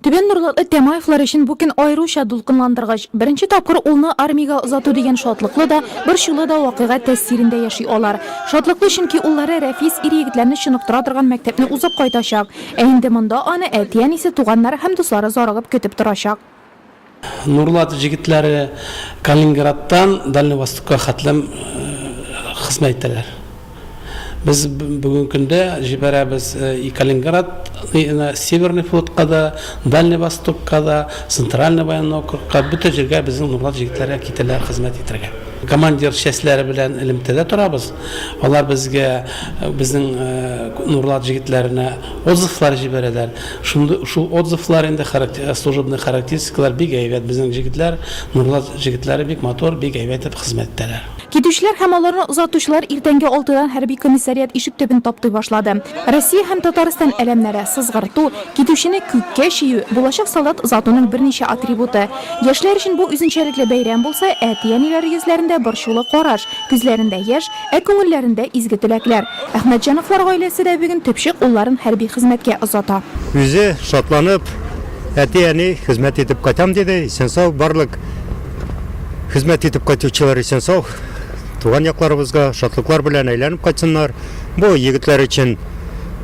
Түбән Норлатлы Тямаевлар өчен бу көн аеруча дулкынландыргыч. Беренче тапкыр улны армиягә озату дигән шатлыклы да, борчулы да вакыйга тәэсирендә яши алар. Шатлыклы, чөнки уллары Рәфис ир-егетләрне чыныктыра торган мәктәпне узып кайтачак. Ә инде монда аны әти-әнисе, туганнары һәм дуслары зарыгып көтеп торачак. Нурлат җегетләре Калининградтан Дальний Востокка хәтлем хезмәт итәләр. Без бүген көндә җибәрәбез и Калининград на Северный флотка да, Дальний Востокка да, Центральный военный округка, бөтен җиргә безнең Нурлат җегетләре китәләр хезмәт итәргә. Командир частьләре белән элемтәдә торабыз. Алар безгә, безнең Нурлат җегетләренә отзывлар җибәрәләр. Шундый шул отзывлар инде характер служебный характеристикалар бик әйбәт безнең җегетләр Нурлат җегетләре бик матур бик әйбәт итеп хезмәт итәләр. Китүчеләр һәм аларны озатучылар иртәнге алтыдан хәрби комиссариат ишек төбен таптый башлады. Россия һәм Татарстан әләмнәре, сызгырту, китүчене күккә чию, булачак солдат озатуның берничә атрибуты. Яшьләр өчен бу үзенчәлекле бәйрәм булса, әти-әниләр йөзләрендә борчулы караш, күзләрендә яшь, Ә күңелләрендә изге теләкләр. Әхмәтҗановлар гаиләсе дә бүген төпчек улларын хәрби хезмәткә озата. Үзе шатланып, әти-әни, хезмәт итеп кайтам, диде. Исән-сау барлык хезмәт итеп кайтучылар исән-сау туган якларыбызга шатлыклар белән әйләнеп кайтсыннар. Бу егетләр өчен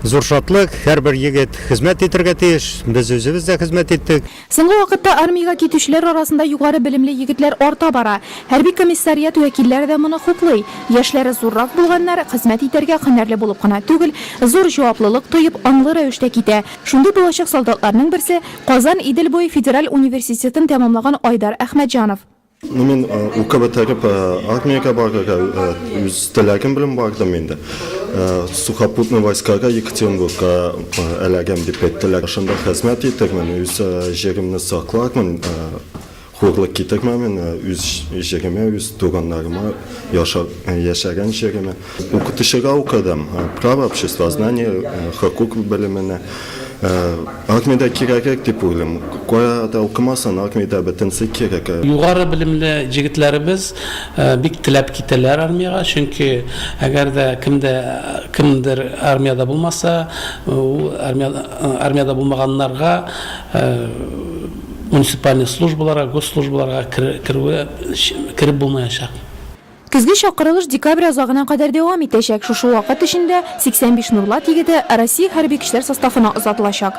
зур шатлык. Һәрбер егет хезмәт итәргә тиеш. Без үзебез дә хезмәт иттек. Соңгы вакытта армиягә китүчеләр арасында югары белемле егетләр арта бара. Хәрби комиссариат вәкилләре дә моны хуплый. Яшьләре зуррак булганнар, хезмәт итәргә һөнәрле булып кына түгел, зур җаваплылык тоеп, аңлы рәвештә китә. Шундый булачак солдатларның берсе, Казан Идел буе федераль университетын тәмамлаган Айдар Әхмәтҗанов. Ну, мин укы бетереп армиягә барырга үз теләгем белән бардым инде. Сухопутный войскага Екатеринбургка эләгәм дип әйттеләр. Шунда хезмәт итермен, үз җиремне саклармын, хурлык китермәмен үз җиремә, үз туганнарыма, яшәгән җиремә. Укытучыга укыдым, право, обществознание, хокук белеменә. Армиядә кирәгрәк дип уйлыйм. Кая да укымасын, армиядә бөтенесе кирәк. Югары белемле җегетләребез бик теләп китәләр армиягә, чөнки әгәр дә кемдә кемдер армиядә булмаса, ул армиядә булмаганнарга муниципальный службаларга, госслужбаларга керүе кереп булмаячак. Көзге чакырылыш декабрь азагына кадәр дәвам итәчәк, шушы вакыт эчендә 85 Нурлат егете Россия Хәрби көчләр составына озатылачак.